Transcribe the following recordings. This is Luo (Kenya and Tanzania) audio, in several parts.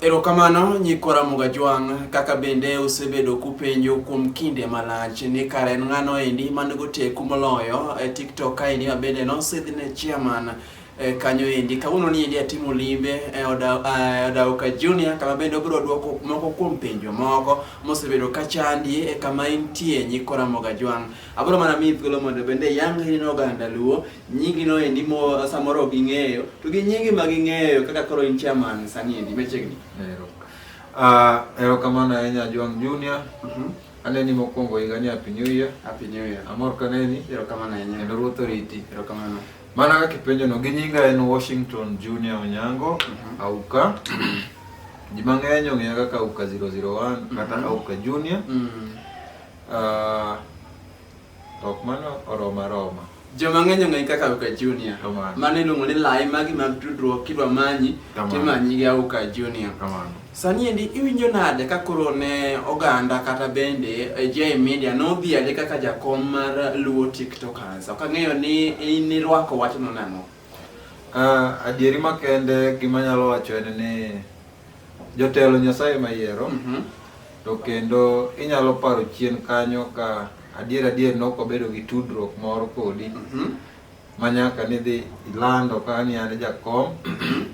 Erokamano nyikwa Ramoga Jwang', kaka bende usebedo kupenjo kuom kinde malach ni kare en ng'ano endi man go teku moloyo e TikTok ka endi ma bende nosidh ne chairman e, kanyo endi. Kawuono ni endi atimo limbe e oda e, Odauka Junior kama bende obiro dwoko moko kuom penjo moko mosebedo ka chandi e kama intie nyikwa Ramoga Jwang'. Abiro mana miyi thuolo mondo bende iyang ine oganda Luo nyingi no endi mo samoro ok ing'eyo to gi nyingi ma ging'eyo kaka koro in chairman sani endi machiegni ero ah uh, ero kamano ahinya Juang Junior mm -hmm. aneni mokwongo higa ni happy new year happy new year amor kaneni ero kamano ahinya kendo ruoth oriti ero kamano mana kaka ipenjo no gi nyinga en Washington Junior Onyango mm -hmm. auka ji mang'eny ong'eya kaka auka 001 kata mm -hmm. auka junior mm -hmm. uh, Ok mano oroma roma. Joma ng'eny ong'eyi kaka Auka Junior. Kamano. Mano iluongo ni lai magi mag tudruok kidwa manyi Kamano. timanyi gi Auka Junior. Kamano. Sani endi iwinjo nade ka koro ne oganda kata bende eh, J Media nodhiale kaka jakom mar Luo TikTokers. Ok ang'eyo ni in irwako wachno nang'o. Uh, adieri makende gima nyalo wacho en ni jotelo Nyasaye mayiero mm -hmm. to kendo inyalo paro chien kanyo ka adier adier ne ok obedo gi tudruok moro kodi mm -hmm. ma nyaka nidhi ilando ka ni an jakom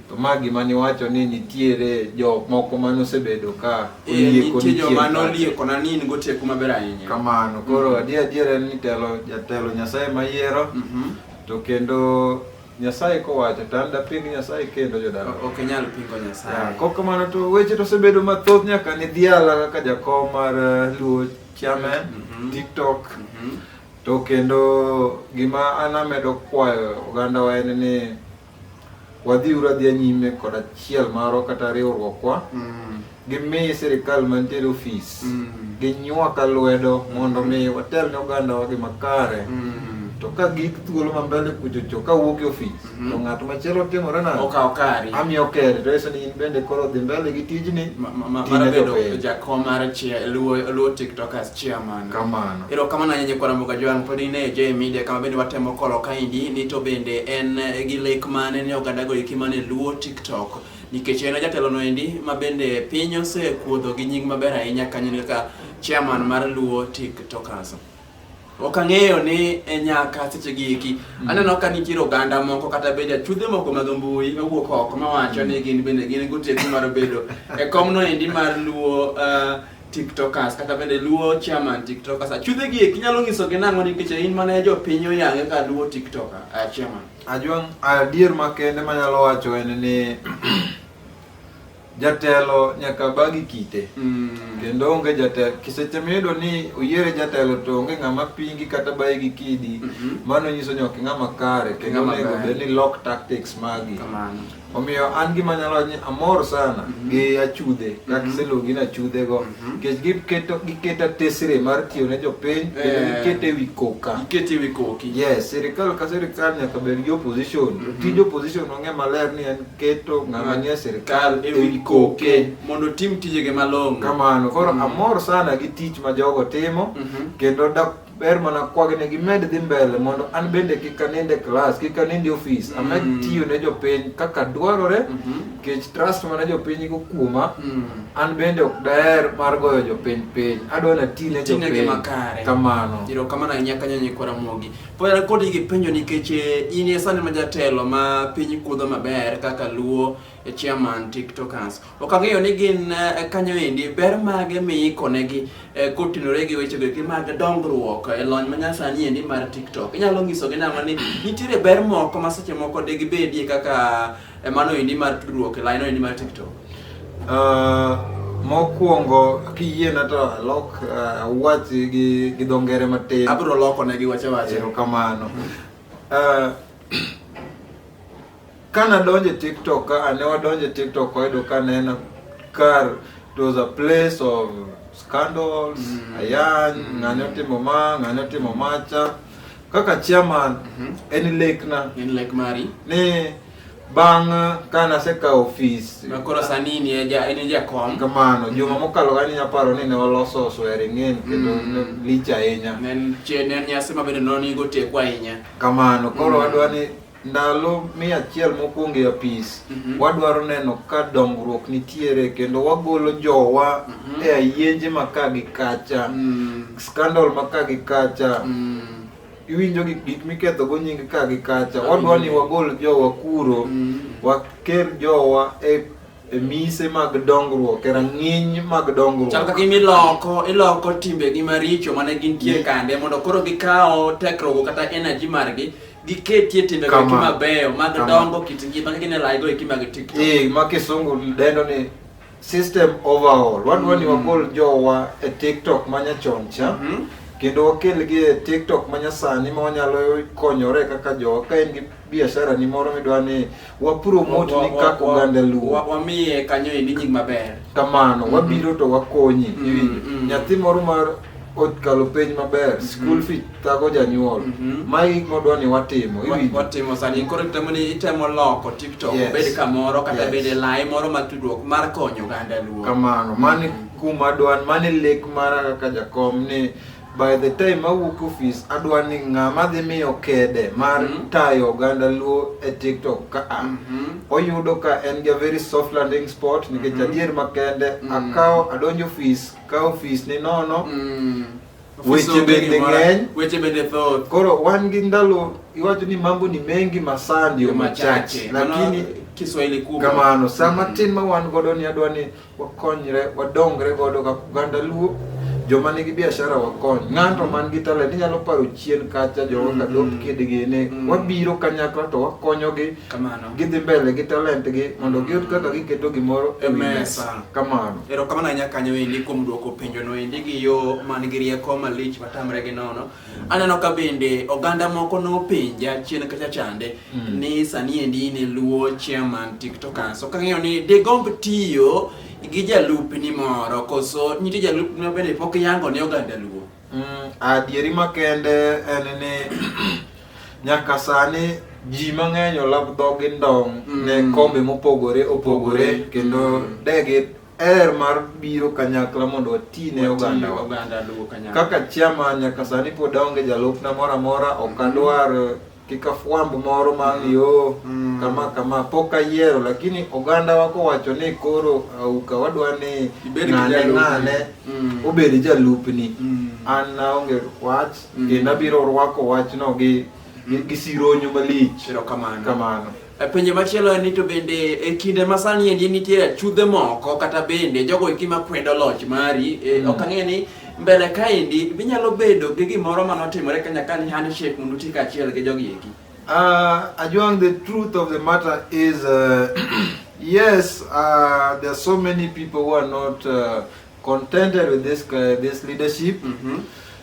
to ma gima niwacho ni nitiere jok moko mane osebedo ka eh, oliekonichiejomanooliekona ni in goteku maber ahinya kamano koro mm -hmm. adier adier en ni telo jatelo nyasaye mayiero mm -hmm. To kendo Nyasaye kowacho to an daping Nyasaye kendo jodala. Ok inyal pingo Ya, Nyasaye. Kok kamano to weche to osebedo mathoth nyaka ni dhiala kaka jakom mar eh, Luo Chairman, Mhm. TikTok. Mhm. To kendo gima an amedo kwayo ogandawa en ni wadhi ura dhi nyime kod achiel marwa kata riwruokwa mm. gimi sirikal mantiere ofis mm. ginywaka lwedo mondo mi watel ne ogandawa gi makare mm. to ka gik thuolo mambele kuchocho ka wuok e ofis mm-hmm. to ng'at machielo timore na okawo kari amiyo keri to eso ni in bende koro dhi mbele gi tijni mar bedo jakom mar luo tiktokers chairman kamano Erokamano ahinya kwana mboga joang pod ine J Media kama bende watemo kolo kaindi ni to bende en eh, gi lek mane ne oganda go iki mane luo TikTok nikech en jatelo no endi ma bende piny osekuodho gi nying maber ahinya kanyo ni kaka chairman mar luo TikTokers. Ok ang'eyo ni e nyaka seche gi iki mm. aneno ka nitiere oganda moko kata bende achudhe moko mag mbui mawuok oko mawacho ni gin bende gin goteku mar bedo e kom no endi mar luo uh, tiktokers kata bende luo chairman tiktokers achudhe gi eki nyalo nyiso gi nang'o nikech in mane jo piny oyange ka luo tiktoker uh, chairman ajwang adier makende manyalo wacho en ni jatelo nyaka bagi kite mm. kendo onge jatelo kiseche miyudo ni oyiere jatelo to onge ng'ama pingi kata bayi gi kidi mm -hmm. mano nyiso ni ok ng'ama kare kendo onego bed ni lock tactics magi Omiyo an gima nyalo wacho ni amor sana mm -hmm. gi achudhe mm -hmm. kakiseluongi na chudhe go mm -hmm. nikech giketo giketa tesre mar tiyo ne jopiny kendo eh. gikete ewi koka gikete ewi koki yes sirikal ka sirikal nyaka bed gi opposition mm -hmm. tij opposition ong'e maler ni en keto ng'ama nie sirikal ewi koke mondo tim tijege malong'o kamano koro mm -hmm. amor sana gi tich ma jogo timo mm -hmm. kendo ber mana kwagi ne gimed dhi mbele mondo an bende kik anind e klas kik anind e ofis mm. amed tiyo ne jopiny kaka dwarore mm-hmm. nikech mm -hmm. trust mana jopiny go kuoma mm. an bende ok daher mar goyo jopiny piny adwa na ti ne jopiny kamano iro kamano ahinya kanyo nyikwara mogi pod an kodi gi penjo nikech eh, in e sani ma jatelo ma piny kudho maber kaka luo e chairman tiktokers Ok ang'eyo ni gin eh, kanyo endi ber mage miikonegi eh, kotenore gi wechego eki mag dongruok e lony manyasani endi mar TikTok. Inyalo nyisogi nang'o ni nitiere ber moko ma seche moko digibedie kaka eh, mano endi mar tudruok e laino endi mar TikTok? Uh, mokwongo kiyiena to alok uh, wach gi, gi dho ngere matin Abiro loko ne gi wache wache. erokamano uh, Ka nadonjo e TikTok ka ane wadonjo e TikTok wayudo ka nena kar it was a place of scandals, mm. ayany, mm. ng'ane otimo ma, ng'ane otimo macha. Kaka chairman mm -hmm. en lekna. En lek mari. Ni bang' kane asekawo ofis ma koro sani ni en e e jakom kamano juma mhm. mokalo kani nyaparo ni ne waloso swearing in kendo mhm. lich ahinya ne en nyasi ma bende nonigo teko ahinya kamano koro mhm. wadwa ni ndalo mia achiel mokwongo e apis mm -hmm. wadwaro neno ka dongruok nitiere kendo wagolo jowa mm -hmm. e ayenje maka gi kacha mm -hmm. scandal maka gi kacha mm -hmm. iwinjo gik gik miketho go nying ka gi kacha mm -hmm. wadwa ni wagol jowa kuro mm -hmm. waker jowa e e mise mag dongruok e rang'iny mag dongruok chal kaka iloko iloko timbegi maricho mane gintie kande mondo koro gikawo tekrogo kata energy margi giketie timbe go kima beyo mag dongo kit ngima ka gine laigo e kima gi tiktok eh ma kisungu dendo ni system overall wan mm. wani wagol jowa e tiktok manya chon cha mm -hmm. kendo wakelgi e tiktok manya sani ma wanyalo konyore kaka jowa ka en gi biashara ni moro midwa ni wapromot ni kaka oganda luo wamiye kanyo ni nying maber kamano mm-hmm. wabiro to wakonyi mm-hmm. iwinjo mm-hmm. nyathi moro mar okalo penj maber school fee thago janyuol magi gik modwa ni watimo watimo sani koro itemo ni itemo loko tiktok obed kamoro kata bed e lai moro mar tudruok mar konyo oganda luo kamano mani kuma dwan mani lek mara kaka jakom ni by the time awuok office adwa ni ng'ama dhi miyo kede mar mm -hmm. tayo oganda luo e tiktok ka a mm -hmm. oyudo ka en ga very soft landing spot nikech mm -hmm. adier makende mm -hmm. akawo adonjo office ka office ni nono mm -hmm weche bende ng'eny, weche bende thoth. Koro wan gi ndalo iwacho ni mambo ni mengi masandi machache, lakini Kiswahili kubwa kamano. Saa mm-hmm. matin ma wan godo ni adwa ni wakonyre wadongre godo kaka oganda Luo joma nigi biashara wakony ng'ato man gi talent inyalo paro chien kacha jowa ka dop kid gini Mm. wabiro kanyakla to wakonyogi Kamano. gidhi mbele gi talent gi mondo giyud kaka giketo gimoro e wi Mesa. mesa kamano Erokamano ahinya kanyo endi kuom duoko penjono endi gi yo man gi rieko malich matamre gi nono. Aneno ka bende oganda moko nopenja chien kacha chande mm. ni sani endi in e luo chairman tiktokers ok ang'eyo ni digomb tiyo gi jalupni moro koso nitie jalupni ma bende pok yango ne oganda luo mm, adieri makende en ni nyaka sani ji mang'eny olab dhogi ndong' mm. ne kombe mopogore opogore kendo mm. degi er mar biro kanyakla mondo wati ne oganda wa. oganda luwo kanyakla Kaka chairman nyaka sani pod aonge jalupna moro amora, ok adwar eh, kik afwamb moro ma ni yo Mm. kama kama pok ayiero, lakini oganda wa kowacho ni koro auka wadwa ni Ibed gi ng'ane jalupni. ng'ane Mm. obed jalupni. Mm. An naonge wach Mm. kendo abiro rwako wachno gi gi gi sironyo malich. erokamano Kamano. E, penjo machielo en ni to bende e kinde ma sani endi nitie chudhe moko kata bende jogo eki makwedo loch mari e, mm. ok ang'e ni mbele kaendi binyalo bedo gi gimoro mane otimore kanya ka ni handshake mondo uti kaachiel gi jogi eki uh, Ajwang, the truth of the matter is uh, yes uh, there are so many people who are not uh, contented with this, uh, this leadership mm -hmm.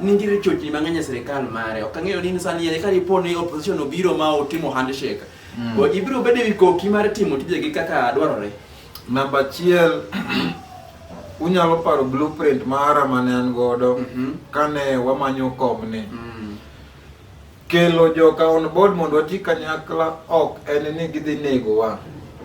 Nitiere chochni mang'eny e sirikal mare. Ok ang'eyo ni sani yere ka dipo ni opposition obiro ma otimo handshake. Mm. Bo ibiro bedo e wi koki mar timo tijegi kaka dwarore. Namba achiel, unyalo paro blueprint mara mane an godo Mhm. kane wamanyo komni. Mm. Kelo joka on board mondo wati kanyakla ok en ni gidhi negowa.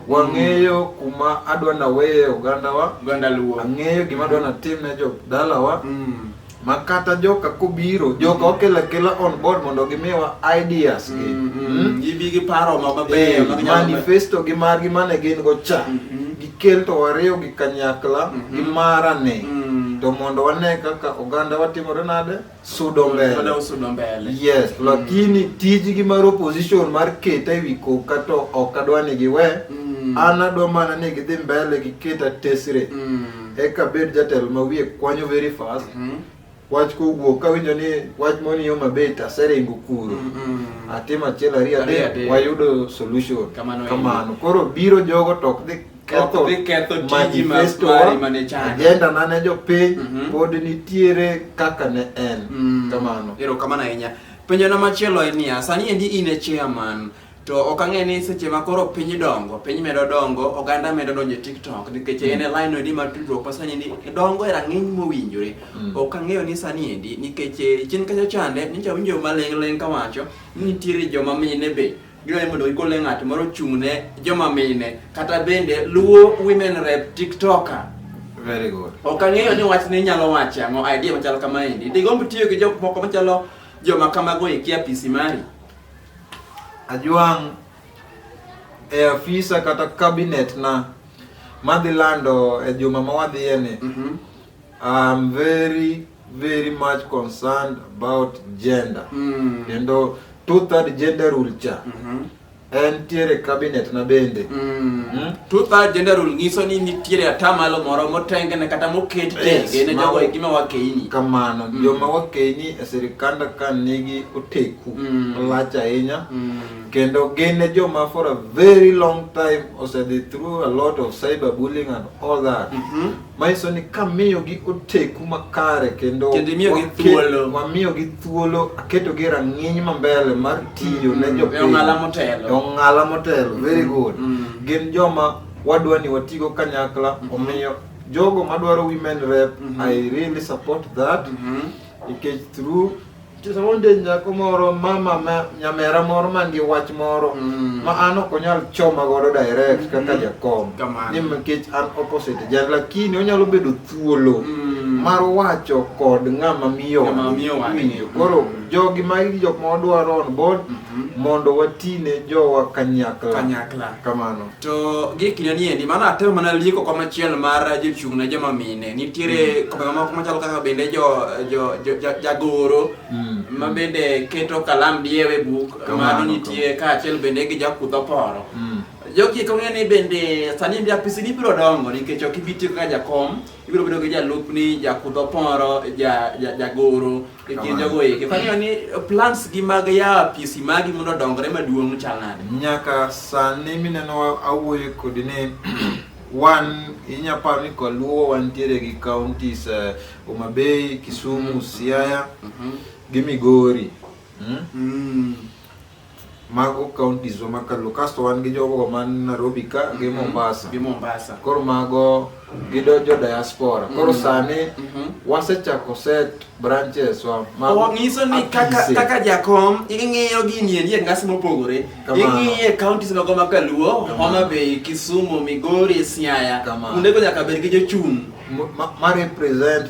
Wang'eyo kuma adwa naweye ogandawa, Oganda Luo. ang'eyo gima adwa natim ne jo dalawa, Mm. ma kata joka kobiro, joka okela kela on board mondo gimiwa ideas gi. Mm, mm. Mm. Gibi gi paro ma mabeyo Eh, ma ginyalo- manifesto gi margi mane gin go cha Mhm. gikel to wariw gi kanyakla Mhm. gi marane Mm. to mondo wane kaka oganda watimore nade sudo mbele Tuende usudo mbele. yes lakini tijgi mar opposition mar keta ewi koka to ok adwa ni giwe Mm. an adwa mana ni gidhi mbele gi keta tesre Mm. eka bed jatelo ma wiye kwanyo very fast Mhm. wach kowuok kawinjo ni wach moni yo maber to aseringo kuro Mm, mm. atim achiel ariyo Ariyo adek adek. wayudo solution Kamano kamano koro biro jogo to ok dhi ketho giketho tiji mari mane chano agenda na ne jopiny mhm. pod nitiere kaka ne en mm. kamano erokamano ahinya penjo na machielo en niya sani endi in e chairman to ok ang'e ni seche ma koro piny dongo piny medo dongo oganda medo donjo e tiktok nikech en e mm. line endi ma tudruok ma sani endi dongo e rang'iny mowinjore mm. ok ang'eyo ni sani endi nikech eh, chien kacha chande nyicha winjo maling'ling' kawacho ni nitiere joma mine be Gidwani mondo gigole ng'at moro chung' ne joma mine kata bende luwo women rep tiktoker. Very good. Ok ang'eyo ni wach ni nyalo wacho ang'o idea machal kama endi. Digomb tiyo gi jok moko machalo joma kamago e kia pisi mari. Ajwang' e afisa kata cabinet na madhi lando e juma ma wadhiyeni. Mhm. I'm very very much concerned about gender mm. kendo two third gender rule cha mm -hmm. en tiere cabinet na bende mm. mm. two third gender rule nyiso ni nitiere atamalo moro motengene kata moket tenge ne jogo e gima wakeini kamano mm. joma wakeini e sirikanda ka nigi oteku mm. olach ahinya mm. kendo gin e joma for a very long time osedhi through a lot of cyber bullying and all that mm -hmm. manyiso ni kamiyogi oteku makare kendo Kendo imiyogi wake- thuolo. mamiyogi thuolo aketogi e rang'iny mambele mar tiyo ne jopiny E ong'ala motelo. E ong'ala motelo very good Mm. gin joma wadwa ni watigo kanyakla omiyo jogo madwaro women rep Mhm. i really support that Mhm. nikech through Nitie sama onde nyako moro mama ma nyamera moro man gi wach moro Mm. ma an ok onyal choma godo direct kaka Mm. jakom Kamano. ni nikech an opposite jan lakini onyalo bedo thuolo Mm. mar wacho kod ng'ama miyo Ng'ama wang'e. miyo wang'e. Winjo. koro Mm. jogi magi jok ma wadwaro on board Mhm. mondo watine jowa kanyakla Kanyakla. kamano To gi kinde ni endi mano atemo mana lieko kom achiel mar jochung' ne joma mine. Nitiere mm. kombe mamoko machalo kaka bende jo jo jo jagoro mm. ma bende keto kalam diewe buk mano nitie kaachiel bende gi jakudho poro. Mm. Jogi kong'e ni bende sani ndi apisi ni biro dongo nikech ok ibi tiyo kaka jakom. ibiro bedo gi jalupni jakudh oporo jagoro e kind jogo eki fang'eyo ni plans gi mag yawo apisi magi mondo odongre maduong' chal nade nyaka sani mineno awuoyo kodi ni wan inya paro ni kaluo wantiere gi counties uh, Homa Bay, Kisumu, mm-hmm. Siaya mm -hmm. gi Migori mm? Mm. Mago counties wa makalo kasto wan gi jogo man Nairobi ka gi Mhm. Mombasa. Gi Mombasa. Koro mago gidonjo diaspora. Koro Mhm. sani Mhm. wasechako set branches wa mago Wangiso ni kaka apise. kaka jakom ing'iyo gini endi e ngas mopogore. Kamano. Ing'iye counties mago ma Kaluo, Kamano. Homa Bay, Kisumu, Migori, Siaya. Kamano. Kuondego nyaka bed gi jochung'. ma, ma represent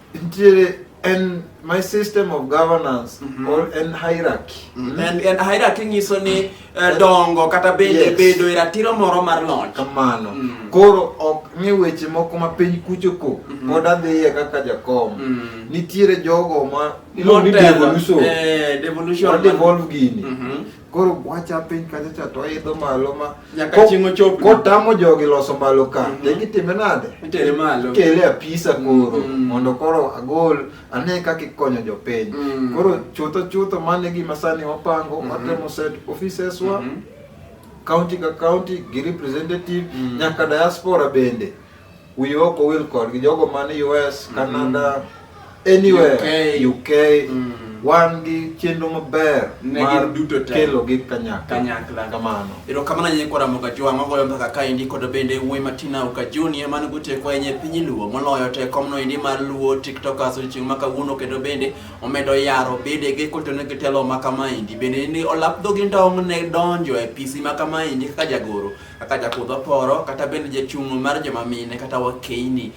nitiere en my system of governance Mhm. or en hierarchy Mm. En, en hierarchy nyiso ni eh, dongo kata bende Yes. bedo e ratiro moro mar loch. kamano Mm. koro ok ni weche moko ma piny kucho ko Mhm. pod adhiye kaka jakom Mm. nitiere jogo ma iluongo ni Motelo, devolution eh, devolution. wa devolve gini Mhm. koro wacha piny kacha cha to idho malo ma nyaka chieng' ochop kotamo jogi loso malo ka mm -hmm. gitime nade itere malo kele apisa koro mm -hmm. mondo koro agol ane kaka ikonyo jopiny mm -hmm. koro chutho chutho mane gima sani wapango mm -hmm. watemo set offices wa mm -hmm. county ka county gi representative mm -hmm. nyaka diaspora bende Wiyi ok owil kodgi jogo man US, mm-hmm. Canada, anywhere UK, UK mm. wan gi chenro maber mar duto kelo gi kanyakla kanyakla kamano ero kamano nye kwa ramoga jwa magoyo mbaka ka indi kod bende wuoyi matina uka junior man guteko enye piny luo moloyo te komno indi mar luo tiktokers chieng maka wuno kendo bende omedo yaro bede ge koto ne gitelo maka ma indi bende ni olap dhogi ndong ne donjo e pisi maka ma indi kaka jagoro kaka jakudh oporo kata bende jachung' mar joma mine kata wakeini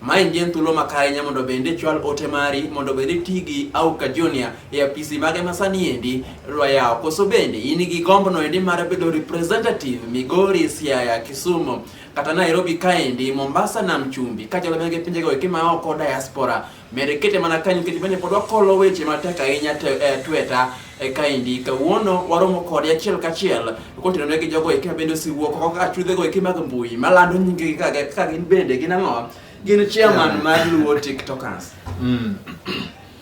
Mae ngi en thuolo makare nya mondo bende chwal ote mari mondo bende ti gi Auka Junior e apisi mage ma sani endi rwayawo. Koso bende in gi gombno endi mar bedo representative Migori, Siaya, Kisumu kata Nairobi kaendi, Mombasa, Nam Chumbi kachalo bende gi pinjego eki ma oko diaspora. Med kete mana kanyo nikech bende pod wakolo weche matek ahinya te- e tweta e kaendi. Kawuono waromo kode achiel kachiel kotenore gi jogo eki mabende osewuok oko kaka chudhego eki mag mbui malando nyingegi ka gi- ka gin bende gin ang'o? Gin chairman mar Luo TikTokers. Mm.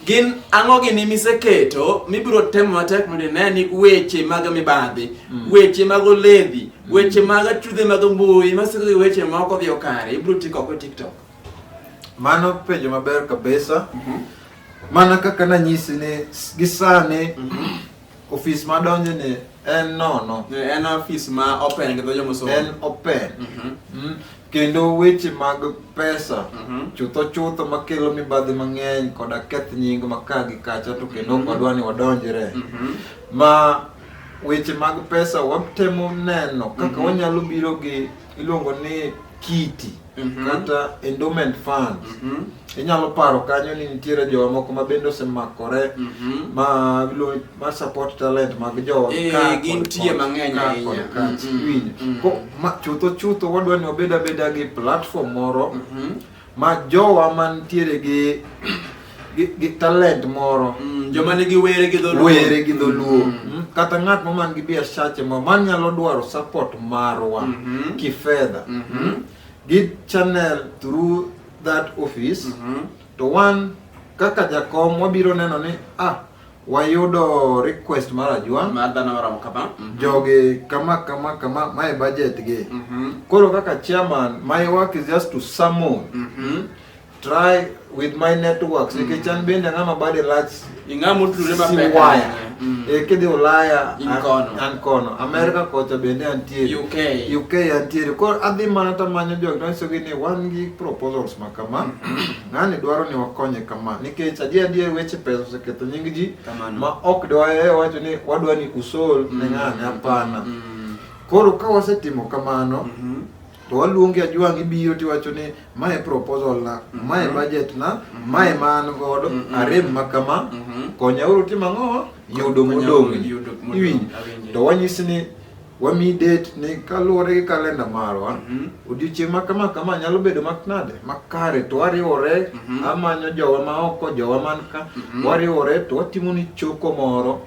Gin ang'o gini miseketo mibiro temo matek mondo ine ni weche mag mibadhi, weche mag oledhi, weche mag chudhe mag mbui masiko gi weche maok odhi okare ibiro tik oko e TikTok. Mano penjo maber kabisa. Mana kaka nanyisi ni s- gi sani ofis madonjo ni en nono, En ofis ma open gi dho jomusungu. en open. Mhm. Mm. Kendo weche mag pesa Mhm. chutho chutho makelo mibadhi mang'eny koda keth nying ma ka gi kacha to kendo ok wadwa ni wadonjre. Mhm. ma weche mag pesa watemo neno kaka wanyalo biro gi iluongo ni kiti Mhm. kata endowment fund Mhm. inyalo paro kanyo ni nitiere jowa moko ma bende osemakore Mhm. ma iluongo- ma support talent mag jowa Eh, ka kod gintie kod, mang'eny ka ahinya. kod ka. Mhm. Iwinjo? Mhm. Ko- ma chutho chutho wadwa ni wabed abeda gi platform moro Mhm. ma jowa mantiere gi gi, gi talent moro Mm, joma nigi were gi dholuo were gi dholuo Mm, kata ng'at ma man gi biashache ma man nyalo dwaro support marwa Mhm. kifedha Mhm. gi channel through that office Mhm. to wan kaka jakom wabiro neno ni ah wayudo request mar ajwang' Mar dhano maromo kama. Mhm. jogi kama kama kama mae budget gi Mhm. koro kaka chairman my work is just to summon Mhm. try with my networks mm. nikech an bende ang'ama bade lach ing'ama otudore mapek waya mm. e kidhi ulaya an kono amerika mm. kocha bende antiere uk uk antiere koro adhi mana tamanyo jok tanyisogi ni wan gi proposals ma kama ng'ani dwaro ni wakonye kama nikech adier adier weche pesa oseketho nying ji ma ok dwaye wacho ni wadwa ni usol ne ng'ani hapana koro ka wasetimo kamano mm-hmm. to waluongi ajwang' ibiro tiwacho ni mae proposal na mm-hmm. mae budget na mm-hmm. mae ma an godo mm-hmm. arem ma kama konyauru tim ang'o yudo modong' iwinj to wanyisi ni wami date ni kaluwore gi kalenda marwa odiochieng' ma kama kama nyalo bedo maknade makare to wariwore amanyo jowa ma oko jowa man ka wariwore to watimo ni choko moro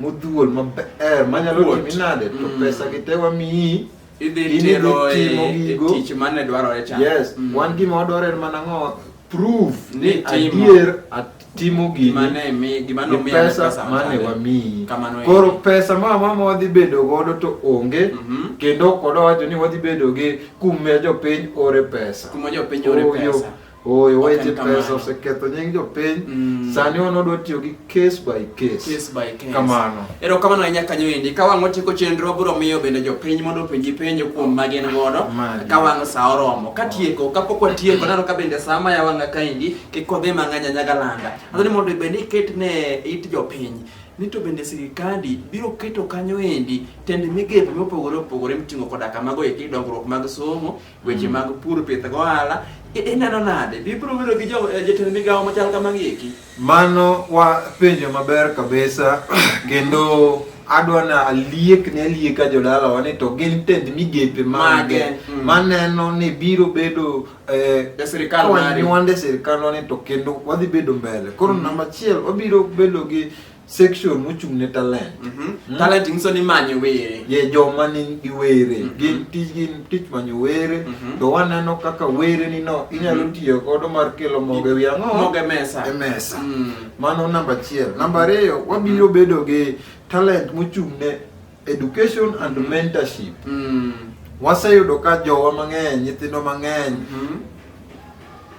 modhuol maber manyalo timi nade to pesa gi te wamiyi idhi timo e, e tich mane dwarore cha yes mm. wan gima wadwaro en mana ng'o proof ni adier atimo gini pesa mane wamiyi koro pesa ma mama wadhi bedo godo to onge mm -hmm. kendo kodo wacho ni wadhi bedo gi kuma jopiny ore pesa kuma jopiny ore pesa Oyo wa ite pesa oseketho nying jopiny. Mm. Sani wan odwa tiyo gi case by case. Case by case. Kamano. Ero kamano ahinya kanyo endi. Ka wang' otieko chenro biro miyo bende jopiny mondo openji penjo kuom ma gin godo. Ka wang' sa oromo. Ka tieko, ka pok watieko, nano ka bende sa ma yawanga ka endi, kik wadhi mang'anya nyaga landa. Adwa ni mondo bende iket ne it jopiny ni to bende sirikandi biro keto kanyo endi tend migepe mopogore opogore miting'o koda kamago eki dongruok mag somo Weche mag pur, pith gohala, i- ineno nade? Bibiro bedo gi jo- eh, jotend migawo machal kamagi eki? Mano wa penjo maber kabisa kendo adwa na aliek ne alieka jodalawa ni to gin tend migepe mage Mage, mm. maneno ni biro bedo eh, E sirikal mari. kawanyuande sirikal ni to kendo wadhi bedo mbele koro namba achiel wabiro bedo gi section mochung' ne talent Mhm. Talent nyiso ni manyo were. ye joma ni gi were Mhm. gin tij gin tich manyo were Mhm. to waneno kaka were ni no inyalo Mhm. tiyo godo mar kelo mogo e wi ang'o Mogo e mesa. e mesa Mm. mano namba achiel namba ariyo wabiro bedo gi talent mochung' ne Education and mentorship. Mm. Waseyudo ka jowa mang'eny, nyithindo mang'eny mm.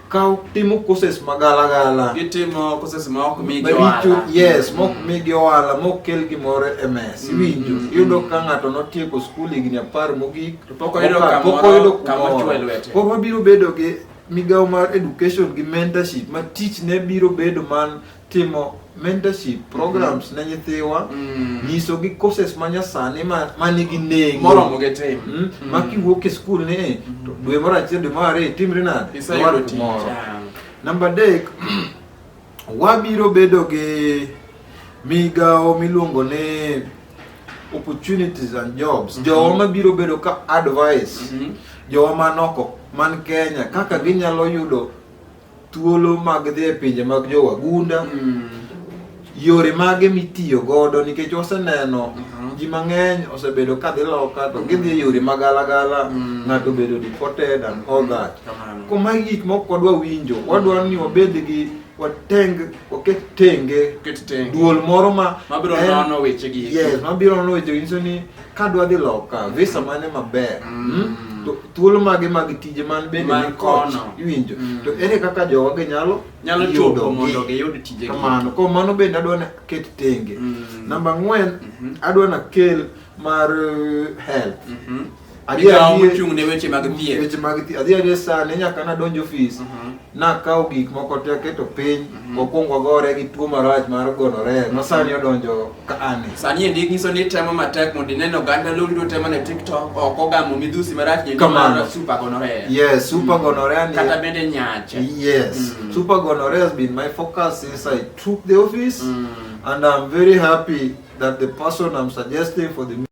kaw timo courses magalagala. Gitimo courses ma ok migi ohala. Yes, ma ok mm. migi ohala, ma ok kel gimoro e mesa. Mm, Iwinjo, mm, iyudo ka ng'ato notieko skul higni apar mogik, pok oyudo kamoro kama chwe lwete. Koro wabiro bedo gi migawo mar education gi mentorship ma tich ne biro bedo man timo mentorship programs mm. ne nyithiwa mm. nyiso gi courses ma nyasani ma ma nigi nengo moromo gi tim mm. mm. ma kiwuok e school ni mm. to dwe moro achiel dwe moro ariyo itimri nade isayudo tich namba adek wabiro bedo gi migawo miluongo ni opportunities and jobs mm -hmm. jowa mabiro bedo ka advice mm -hmm. jowa manoko man kenya kaka ginyalo yudo thuolo mag dhi e pinje mag jowagunda mm. yore mage mitiyo godo nikech waseneno uh mhm. -huh. ji mang'eny osebedo ka dhi loka to gidhi e yore ma galagala mm. ng'ato obedo deported and all that mm. koma gik moko kodwa winjo wadwaro ni wabed gi wateng waket tenge duol moro ma mabiro nono wechegi yes mabiro nono wechegi nyiso ni ka dwa dhi loka visa mane maber Mm. mm, to thuolo mage mag tije man bende Man ni kono. kono iwinjo Mm. to ere kaka jowage nyalo nyalo chopo yudogi? mondo giyud tijegi kamano ko mano bende adwa naket tenge Mm. namba ang'wen Mhm. adwa nakel mar eh, health Mhm. Adhi Migawo adhi- mochung' ne weche mag thieth. weche mag thieth adhi adhi sani nyaka nadonj ofis Mhm. nakawo gik moko te aketo piny mhm. wakwong wagore gi tuo marach mar gonore ma sani mhm. odonjo ka ani sani e ndik nyiso ni temo matek mondo ineno oganda loldo temo ne tiktok ok ogamo midhusi marach nyendomar super gonorrhea yes super mhm. gonorrhea ni kata bende nyache yes mm. super gonorrhea has been my focus since i took the office mm. and i'm very happy that the person i'm suggesting for the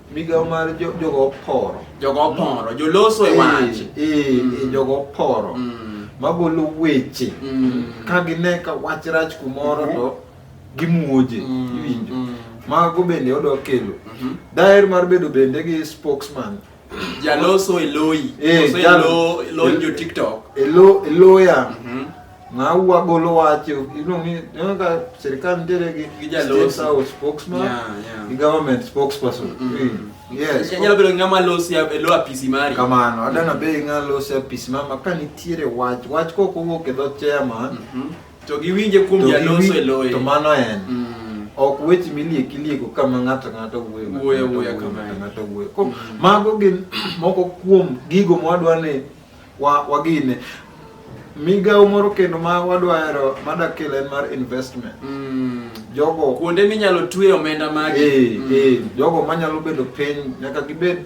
Migawo mar jo- jogo oporo. Jogo oporo, joloso e wach. Eh, eh, Mm. eh, jogo oporo. Mm. Magolo weche. Mm. Ka gine ka wach rach kumoro Mhm. to gimuoje. Mm. Iwinjo. Mm. Mago bende odwa kelo. Mhm. Daher mar bedo bende gi spokesman. Jaloso e loyi. Eh, Koso e jal- lo- lony jo TikTok. Elo, eloya. Mhm. Ng'awa golo wach iluongo ni ineno ka sirkal nitiere gi Gi jaloso. state house spokesman Yeah, yeah. gi government spokesperson Mm. yes Nyalo bedo ng'ama losi e lo apisi mari. kamano adana be ng'alose apis mama ka nitiere wach wach kok owuok e dho chairman Mhm. To giwinje kuom to jaloso giwi- e loye. to mano en Mm. ok weche miliek ilieko kama ng'ato ng'ato wuoyo ng'ato Wuoyo, ng'ato wuoyo wuoyo, kama ng'ato en. ng'ato wuoyo Ko- Mm. mago gin moko kuom gigo mwadwa ni wa wagine migawo moro kendo ma wadwaro madakelo en mar investment mm. jogo kuonde minyalo twe omenda magi eh, mm. eh, jogo manyalo bedo piny nyaka gibed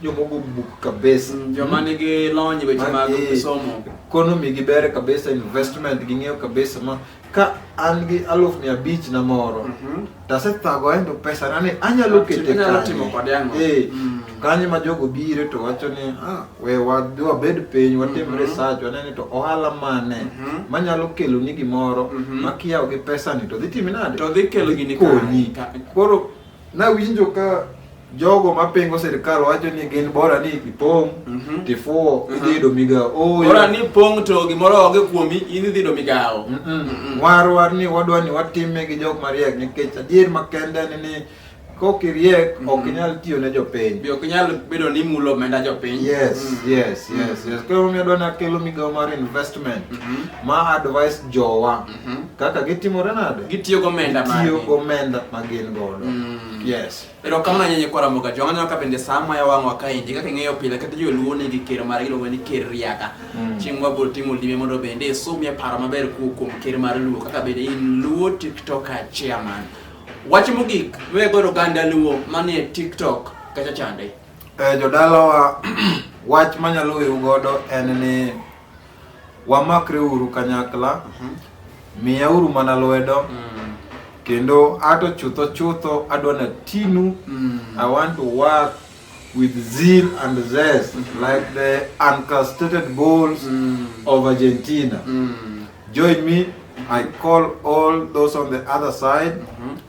jomogo buk kabisa mm, joma nigi lony weche mag eh, somo economy gibere kabisa investment ging'eyo kabisa ma ka an gi aluf mia abich na moro Mhm. to asethago aendo pesa na ni anyalo kete Inyalo timo kanye kode ang'o? Eh, Mm. to kanye ma jogo bire to wacho ni ah, we wadhi wabed piny watim Mhm. research wane ni to ohala mane Mhm. manyalo kelo ni gimoro Mhm. makiyawo gi pesa ni to dhi timi nade To dhi kelo gini konyi ka- ka- koro Nawinjo ka jogo mapingo sirkal wacho ni gin bora ni ipong' Mhm. tifuwo Mhm. idhi yudo migawo Oyo. Bora ni pong' to gimoro onge kuomi, in idhi yudo migawo. Mm-mm. warwar ni wadwa ni watime gi jok mariek nikech adier makende ni ni kok iriek ok Mhm. inyal tiyo ne jopiny Be ok inyal bedo ni imulo omenda jopiny. yes Mm. yes yes yes koro omiyo adwa ni akelo migawo mar investment Mhm. ma advice jowa Mhm. Kaka gitimore nade? Gitiyo gomenda magi. Gitiyo gomenda ma gin godo. Mm. Yes. Pero kama nyenye kwa ramoga jonga nyoka bende sama ya wangu wakaindi kaka ngeyo pila kata jwe luo ni gikero mara gilo wani ker riaka. Mm. Chingwa bol timo lime mondo bende sumi ya para maber ku kum ker mara luo kaka bende in luo tiktoka chairman. Wachi mugik, we goro ganda luo mani tiktok kacha chande. Eh, jodalawa wach manyalo wiu godo en ni wamakre uru kanyakla mhm. miya uru mana lwedo mm. kendo ato chutho chutho adwa na tinu mm. i want to work with zeal and zest mm -hmm. like the uncastrated bulls mm. of argentina mm. join me i call all those on the other side mm -hmm.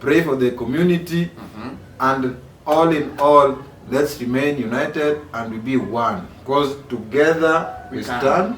pray for the community mm-hmm. and all in all let's remain united and we be one because together we, we stand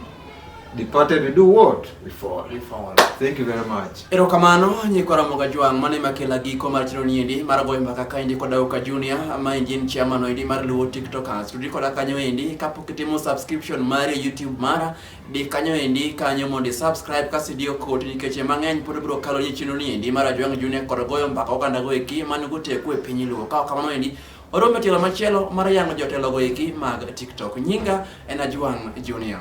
departed we do what we fall we fall thank you very much ero kamano nyikora moga jwang mane makela giko mar chiro niendi mar goyo mbaka ka indi koda uka junior ma engine chairman indi mar luwo tiktokers tudi koda kanyo indi kapok itimo subscription mari youtube mara di kanyo endi kanyo mondo subscribe kasi diyo kodi nikech mang'eny pod biro kalo ni chino ni endi mar Ajwang' Junior kod goyo mbaka oganda go eki man goteku e piny luo ka kamano endi orome tielo machielo mar yango jotelo go eki mag TikTok nyinga en Ajwang' Junior